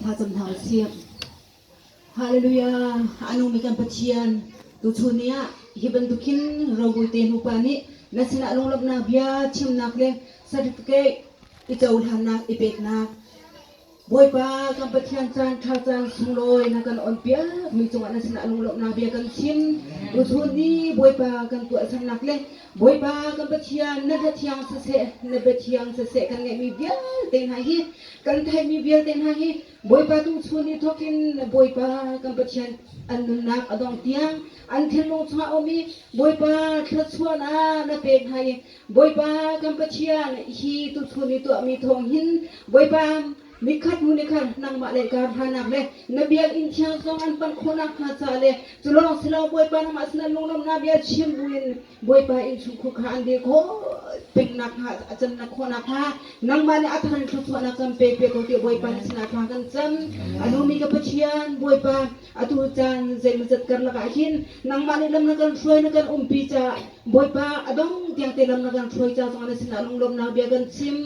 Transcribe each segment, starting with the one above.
Hngacam hna u sih. Hallelujah! A nungmi kan Pathian, tuchun ni ah hi bantukin robawite nupa nih na sinah lunglawmhnak bia chimnak le certificate i cohlannak i peknak Bawipa kan Pathian caan ṭha caan sunglawi na kan on piak mi cungah na sinah lunglawmhnak bia kan chim. Tuchun ni Bawipa kan tuahsernak le Bawipa kan Pathian na hla thiang siseh na bia thiang siseh kan ngeihmi vialte hna hi kan theihmi vialte hna hi Bawipa tuchun ni thawkin Bawipa kan Pathian an nunnak a dong tiang an thinlung chungah a um i Bawipa thluachuahnak na pek hna i Bawipa kan Pathian, hi tuchun i tuahmi thawng hin Bawipa, nikhat hnu ni khan nangmah le ka hnanak le na biakinn thiang zong an panh khawh nakhnga ca le cu lawng si lo Bawipa nangmah sinah lunglawmhnak bia chim buin Bawipa innchungkhur kha an dir khawh peng nakhnga a cannak khawh nakhnga nangmah nih a thar thluachuahnak can pe pe ko tiah Bawipa na sinah thla kan cam. A lumi ka Pathian Bawipa atu caan zeimawzat karlak ah hin nangmah nih lam na kan hruai na kan umpi caah Bawipa a dong tiang te lam na kan hruai ca zong na sinah lunglawmhnak bia kan chim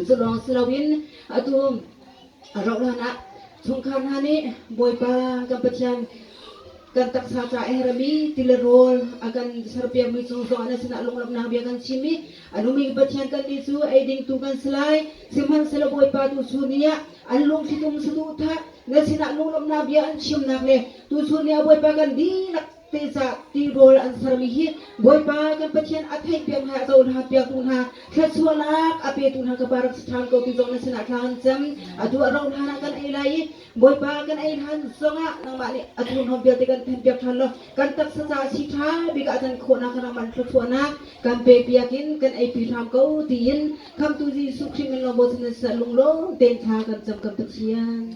cu lawng si loin atu rauhhlan ah chungkhar hna nih Bawipa kan Pathian kan taksa ca e rami tile rawl a kan serpiakmi cung zong na sinah lunglawmhnak bia kan chim i A nungmi Pathian kannih cu ei dingtu kan si lai, sihmanhsehlaw Bawipa tuchun ni ah an lungṭhitum saduhthah na sinah lunglawmhnak bia an chimnak le tuchun ni ah Bawipa kan dihlak te ca tirawl an sermi hi Bawipa kan Pathian a theih piak hna a cohlan piaktu hna thluachuahnak a petu hna ka pa rak si ṭhan ko ti zong na sinah thla kan cam atu a rauh hlan ah kan ei lai i Bawipa kan ei hlan zongah nangmah nih a thurhnawm vialte kan then piak ṭhan law kan taksa caah si ṭha bik ah a can khawhnak kan rak man thluachuahnak Kan pepiak in kan eipi hram ko tiin Khamhtu Jesuh Khrih min lawng bochan in sal lunglawm tein thla kan cam kan Pathian.